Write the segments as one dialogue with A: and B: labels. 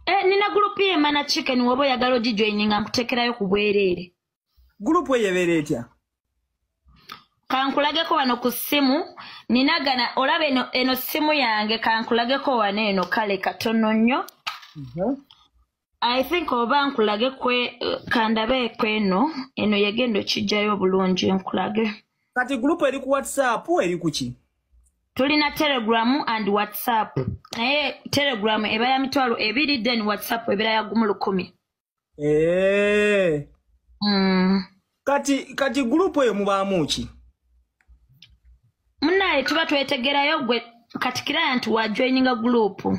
A: Eh, nina gurupu yemana chicken woba oyagala ogijoininga nkutekerayo ku bwereere gurupu eyo
B: ebeera etya kankulageko
A: wano ku ssimu nina gana olaba eno, eno ssimu yange kankulageko wano eno kale katono nnyo mm -hmm. i think oba nkulage kwe kandabe kweno eno yegenda okijjayo obulungi nkulage kati gurupu eri
B: ku whatsapp eri kuki tulina
A: telegram and whatsapp naye telegram eba ya mitwalo ebiri then whatsapp ebera ya gumu lukumi eh. mm.
B: kati kati gurupu eyo mubaamu ki
A: munaye tuba twetegerayo gwe katikiraya nti wajoininga gurupu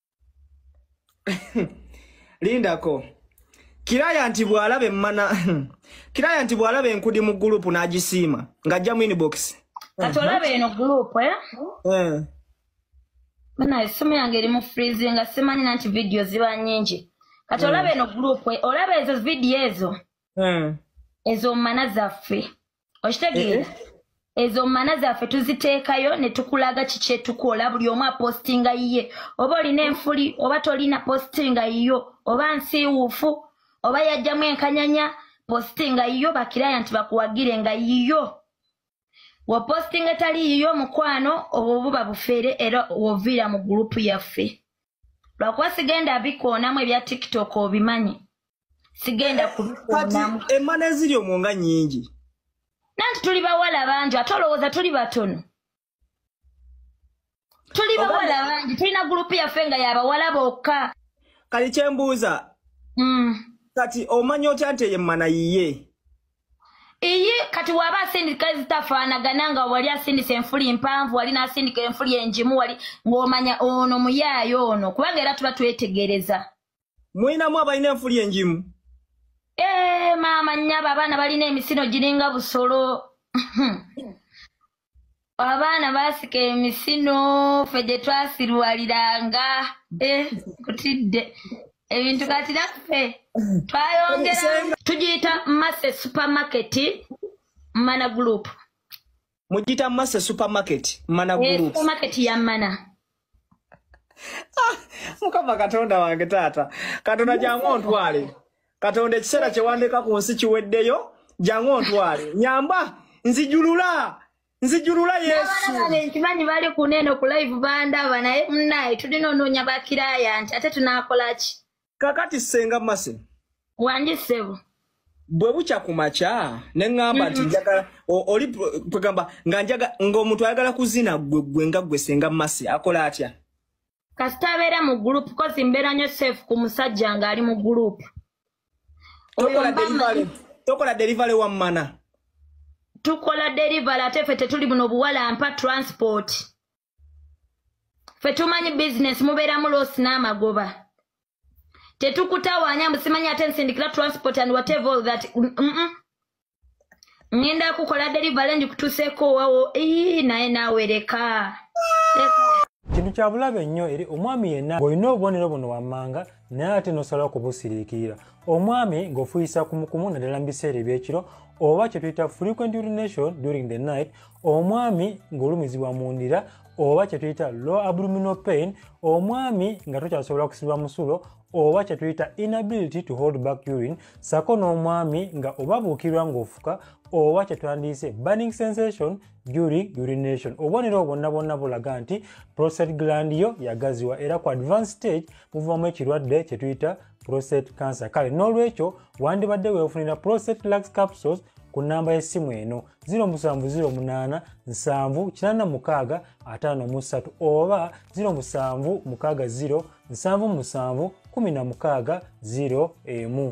B: lindako kiraya nti bwalaba emmana kiraya nti bwalaba enkudi mu gurupu n'agisiima ng'ajja mu inbox kati olaba eno
A: gurupu eh? eh. banaye essimu yange eri mu frizi nga simanyi nanti vidiyo ziba nyingi kati olaba eh. eno gurupu olaba ezo vidiyo ezo ezo mana zaffe okitegeera eh, eh. ezo mana zaffe tuziteekayo ne tukulaga kikyetukola buli omu apostinga yiye oba olina enfuli oba tolina postinga yiyo oba nsiiwuufu oba yajjamu enkanyanya postinga yiyo bakiraya nti bakuwagire nga yiyo wapostinga etali yiyo omukwano obwo buba bufeere era woviira mu gurupu yaffe lwakuba sigenda bikoonamu ebya tiktok obimanyi sigenda kubikonamu kati emana eziri omwo
B: nga nyingi nanti
A: tuli bawala bangi ate olowooza tuli batono tuli bawala bangi tulina gurupu yaffe nga yabawala bokka kati kyembuuza
B: mm. kati omanya otya nti eyo emana yiye
A: iyi kati waba asindika ezitafaanagana nga wali asindisa enfuli mpanvu wali nasindika enfuli enjimu wali ng'omanya ono muyaayo ono kubanga era tuba twetegereza mulinamu
B: abalina enfuli enjimu ee eh,
A: maama nyaba abaana balina emisino giringa busolo abaana basika emisino fe gye twasirwaliranga e eh, kutidde ebintu kati naffe twayongera tugiyita mase supermarket mana group mujita
B: mase supermarket mana eh, group supermarket ya mana
A: ah,
B: mukama katonda wange taata katonda jangu ontwale katonda ekiseera kyewandeka ku nsi kiweddeyo jangu ontwale nyamba nzijulula nzijulula yesu nkimanyi
A: bali kuneeno ku live bandaba naye munaye tulina onoonya bakiraya nti ate tunakolaki kakati senga
B: mase wangi sebo
A: bwe
B: bukya ku makya ne ŋŋamba nti mm. njagala oli kwegamba nga njaga ng'omuntu ayagala kuzina gwe gwe nga gwe senga masi akola atya kasita abeera
A: mu gurupu kozi mbeera nyo safe ku musajja ng'ali mu gurupu
B: tokola delivery wa mmana tukola
A: delivery ate ffe tetuli buno buwalampa transport fe tumanyi bizinesi mubeeramu loosi n'amagoba tetukutawaanya mbu simanyi ate nsindikira transport and whatever all that mm -mm. ngenda kukola delivery ndikutuseeko wawo ii naye nawereka
C: kintu kya bulabe nnyo eri omwami yenna ng'olina obubonero buno wammanga naye ate n'osalawo kubusiriikirira omwami ng'ofuyisa kumukumu naddala mu biseera eby'ekiro oba kye tuyita frequent urination during the night omwami ng'olumizibwa mu ndira oba kye tuyita low abdominal pain omwami nga tokyasobola kusibwa musulo oba kye tuyita inability to hold back urine sako n'omwami nga oba buukirwa ng'ofuka oba kye twandiyise burning sensation during urination obubonero bwonna bwonna bulaga nti prostate gland yo yagaziwa era ku advance stage muvamu ekirwadde kye tuyita prostate cancer kale n'olwekyo wandibadde weefunira prostate lux capsules ku nnamba y'essimu eno 0708974653 oba 0760771601